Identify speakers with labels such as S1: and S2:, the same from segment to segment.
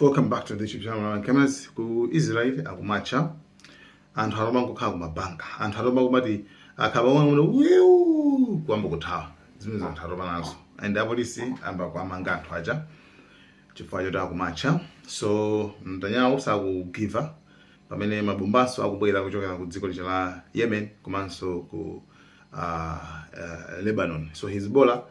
S1: welcome back to the youtube channel Malawi Cameras. ku israel akumatcha anthu alomba nkukhala kumabanka anthu alomba kumati akhaba wang'ono wii kuyamba kuthawa zimene za anthu alomba nazo and apolisi ayamba kuwamanga anthu aja chifukwa choti akumatcha so Netanyahu sakugiva pamene mabombaso akubwera kuchokera ku dziko lija la yemen komanso ku uh, uh, lebanon so hezbollah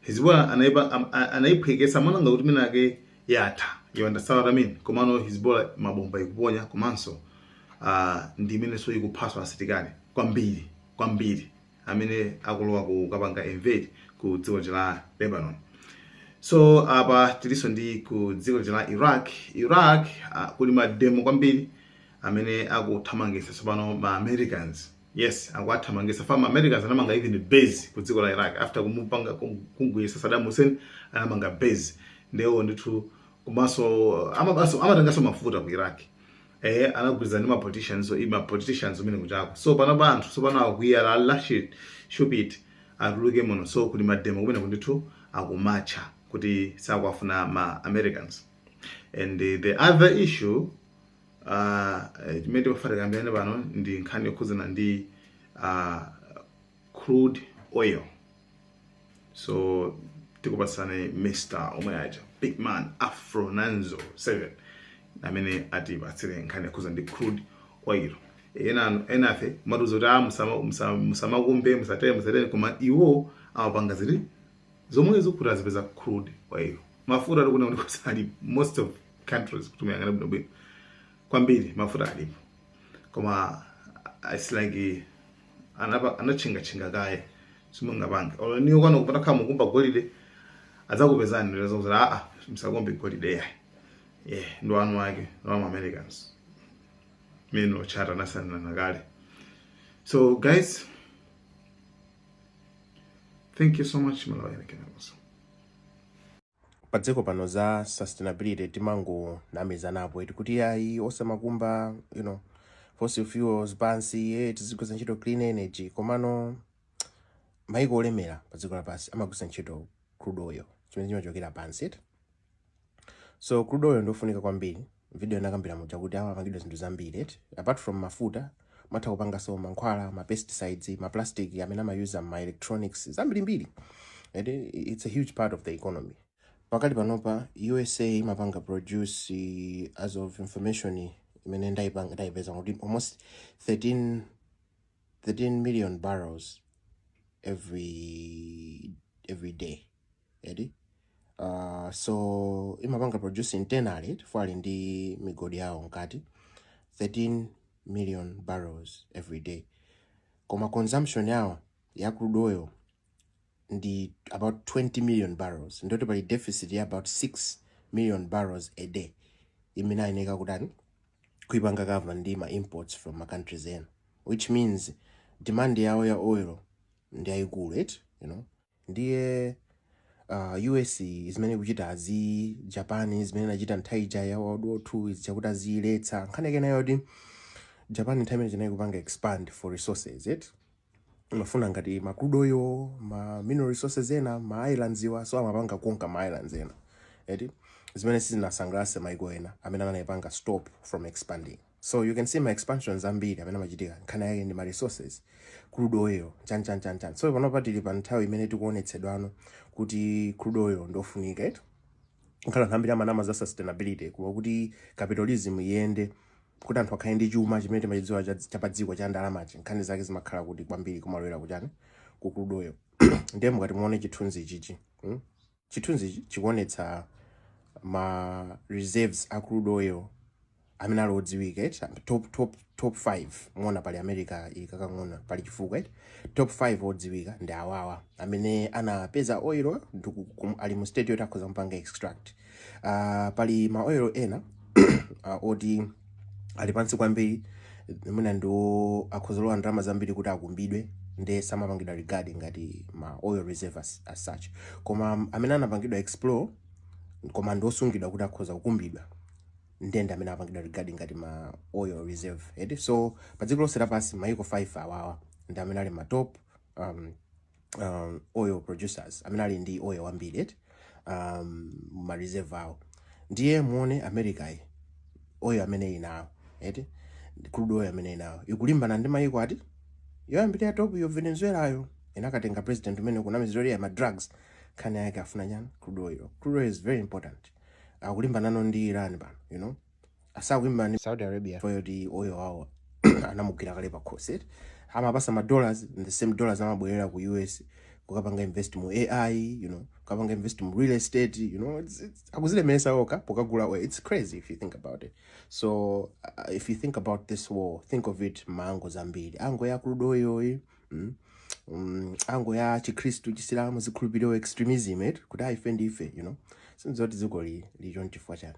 S1: Hizibullah anaipa am- a- anaiphwekesa mwananga kuti minake yatha you understand what I mean komano Hizibullah mabomba ikuponya komanso uh, ndi imenenso ikuphaso asilikali kwambiri kwambiri amene akulowa kukapanga invade ku dziko la Lebanon so apa tilinso ndi ku dziko la iraq iraq uh, kuli mademo kwambiri amene akuthamangisa tsopano ma americans Yes, akuwathamangisa fam Americans anamanga even base ku dziko la Iraq after kumupanga kumugwetsa Saddam Hussein anamanga base ndawo ndithu komanso amabaso amatengaso mafuta ku Iraq eh anagwirizana ndi ma politicians so ma politicians akumenekujako so pano anthu so pano akwiya la lashit shupit atuluke muno so kuli mademo kumeneku ndithu akumatcha kuti sakuwafuna ma Americans and the other issue Ah, eh, imene timafuna tikambirane pano ndi nkhani yokhudzana ndi ah, crude oil so tikupatsani mr omwe aja big man afro nanzo 7 amene atipatsire nkhani yokhudzana ndi crude oil ena ife amatiuza kuti ah, musama- musama- musamakumbe musatere musatere koma iwo amapanga zinthu zomwezi kuti azipeza crude oil mafuta tikuona kuti kusali most of countries kuti tiyang'ane bwino bwino kwambiri mafuta alipo koma ah, it's like anapa- anatchingatchinga kaye simungapange olo iweyo kwanuko utakhala ukukumba golide adzakupezani leza kuti aa musakumbe golide ayi yeah nde eni ake ndi ma americans amene anasainirana kale so guys thank you so much malawi anakenakoso
S2: padziko pano za sustainability timangonamizanapo eti kuti ayi osamakumba you know fossil fuels pansi eh, tizigwiritsa ntchito clean energy komano maiko olemera padziko lapansi amagwiritsa ntchito crude oil imene imachokera pansi eti so crude oil ndiyofunika kwambiri Video inakambira muja kuti amapangidwa zinthu zambiri eti apart from mafuta mutha kupangaso mankhwala ma pesticides ma plastic amene amayuza mma electronics zambirimbiri eti it's a huge part of the economy pakali panopa usa imapanga produce eh, as of information imene ndaipanga ndaipeza kuti almost 13 13 million barrels every every day eti uh, so imapanga produce internally chifukwa ali ndi migodi yawo mkati 13 million barrels every day koma consumption yawo ya crude oil ndi about 20 million barrels nde kuti pali deficit ya about 6 million barrels a day imene ayeneka kutani kuipanga cover ndi ma imports from ma countries ena which means demand yawo ya oil ndi yayikulu eti you know Ndiye uh, US zimene ikuchitazi, Japan zimene inachita nthawi ija ya World War II zija chakuti aziyiletsa nkhani yake nayo yoti Japan nthawi imene imene inali kupanga expand for resources imafuna ngati ma crude oil ma mineral resources ena ma islands iwa so imapanga conquer ma islands ena eti zimene sizinasangalatse maiko ena amene anayipanga stop from expanding So you can see ma expansions ambiri amene amachitika nkhani yake ndi ma resources crude oil chani chani chani chani. So panopa tili pa nthawi imene tikuonetsedwano kuti crude oil ndofunika eti ngakhale anthu ambiri amanama za sustainability koma kuti capitalism iyende kuti anthu akhale ndi chuma chimene timachidziwa cha cha pa dziko cha ndalamachi nkhani zake zimakhala kuti kwambiri kumalowera kuchani ku crude oil ndiye mukati muone chithunzi chichi hmm? Chithunzichi chikuonetsa ma reserves a crude oil amene ali odziwika eti top top top 5 muona pali America ili kakang'ono apa pali chifukwa eti top 5 odziwika ndi awawa amene anapeza oil ali mu state yoti akhoza kupanga extract uh, pali ma oil ena uh, oti ali pansi kwambiri mwina ndi oti akhoza kulowa ndalama zambiri kuti akumbidwe nde samapangidwa regard ngati ma oil reserve as, as such koma amene anapangidwa explore koma ndiosungidwa kuti akhoza kukumbidwa ndi ndi amene amapangidwa regard ngati ma oil reserve eti so pa dziko lonse lapansi maiko 5 awawa ndi amene ali ma top um, um, oil producers amene ali ndi oil wambiri eti um, ma reserve awo ndiye muone america yi oil amene ili nawo eti crude oil amene ili nawo ikulimbana ndi mayiko ati yoyambirira ya top yo venezuela yo inakatenga president uja amene akumunamizira za ma drugs nkhani yake akufuna chani crude oil crude oil is very important akulimbananso ndi iran pano you know sakulimbana ndi saudi arabia chifukwa choti oil wawo anamugwira kale pakhosi eti amawapatsa ma dollars and the same dollars amabwerera ku us kukapanga invest mu ai you know kukapanga invest mu real estate you know it's, it's, akuzilemeresa okha pokagula oil it's crazy if you think about it so uh, if you think about this war think of it mma angle ambiri angle ya crude oil yi mm? um, angle ya chikhristu chisilamu zikhulupiriro extremism eti kuti ah ife ndife you know sinzoti dzikoli lili chonchi chifukwa chani